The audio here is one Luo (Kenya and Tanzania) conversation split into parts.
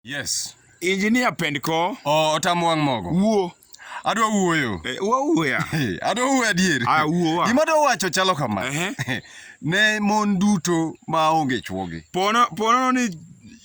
Yes. Engineer Pendko. Oh, otam wang' mogo. Wuo. Adwa wuoyo. Eh, wawuoya. Adwa wuoyo adier. Ah, wuowa. Gima adwa wacho chalo kama. Uh-huh. ne mon duto ma onge chwogi. Pono pono ni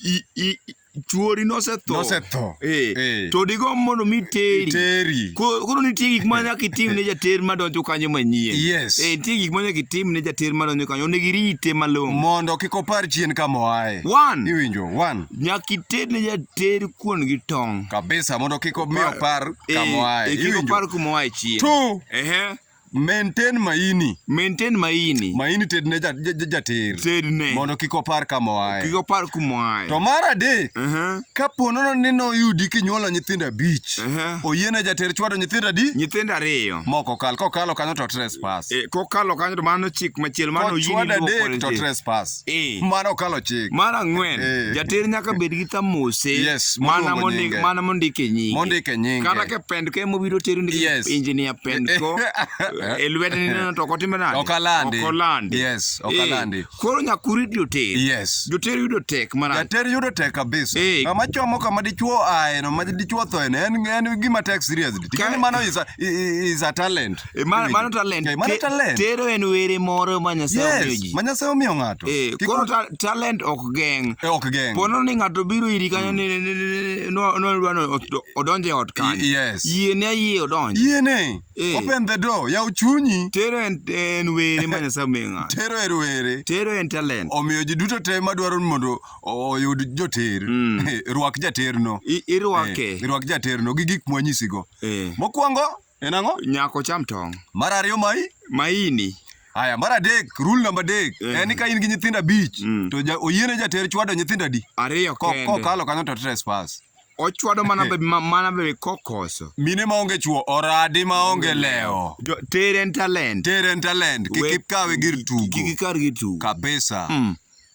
i, i, chuori nosetho nosetho eh, eh. to digomb mondo mi teri teri koro nitie gik ma nyaka itim ne jater ma donjo kanyo manyien yes eh, nitie gik ma nyaka itim ne jater ma donjo kanyo onego irite malong'o mondo kik opar chien kama oaye one iwinjo One. Nyaka iter ne jater kuon gi tong'. Kabisa mondo kik omi opar Eh, kama oaye. eh, kik Iwinjo? opar kuma oaye chien. Two. Ehe. Maintain maini. Maintain maini. Maini ted ne ja- ja- ja- jater. Ted ne. Mondo kik opar kama oaye. Kik opar kuma oaye. To mar adek, Ehe. ka po nono ni noyudi kinyuolo nyithindo abich, Ehe. oyiene jater chwado nyithindo adi? Nyithindo ariyo. Moko kal, kokalo kanyo to trespass. Eh, kokalo kanyo to mano chik machielo mano Kochwado adek to trespass. Eh. Mano kalo chik. Mar ang'wen, eh. jater nyaka bed gi kamose yes, mana mondik mana mondik e nyinge. Mondik e nyinge. Kata ke pend ke mobiro teru ni yes. engineer pend ko e lwete ni no to kotime nade? Okalandi. Okalandi. Yes, eh, okalandi. Eh. Koro nyakuri dio ter. Yes. Joter yudo tek mana. Jater yudo tek kabisa. Eh. Kama chomo kama dichuo aeno ma dichuo thoene en en gima tek seriously. Tikani mano is a, is a talent. Eh, ma- mano talent. Eh, mano Te- talent. Tero en were moro ma Nyasaye omiyo Yes, ji. ma Nyasaye omiyo ng'ato. Eh, Kik koro wa- ta- talent ok geng'. Eh, ok geng'. Pono ni ng'ato biro iri kanyo ni- ni- ni- ni- no- no- dwa ni od- odonje ot kanyo. Y- yes. Yie ne yie odonje. Yiene. Eh. Open the door. Yaw chunyi. Tero en en were ma Nyasaye omiyo ng'ato. Tero er were. Tero en talent. Omiyo ji duto te madwaro ni mondo o- oyud joter. Mm. Eh, Rwak jaterno. I- Irwake. Eh, Rwak jaterno gi gik mwanyisigo. Eh. Mokwongo En ang'o? Nyako cham tong'. Mar ariyo mai? Maini. Aya, mar adek, rule namba adek, mm. en ni ka in gi nyithindo abich, mm. to ja, oyiene jater chwado nyithindo adi? Ariyo kende. Kokalo kanyo to trespass. Ochwado mana be mana be kokoso. Mine ma onge chwo, oradi ma onge leo. Jo, teren talent. Teren talent, kik ikawe gir tugo. Kik ikar gir tugo. Kabisa. Mm.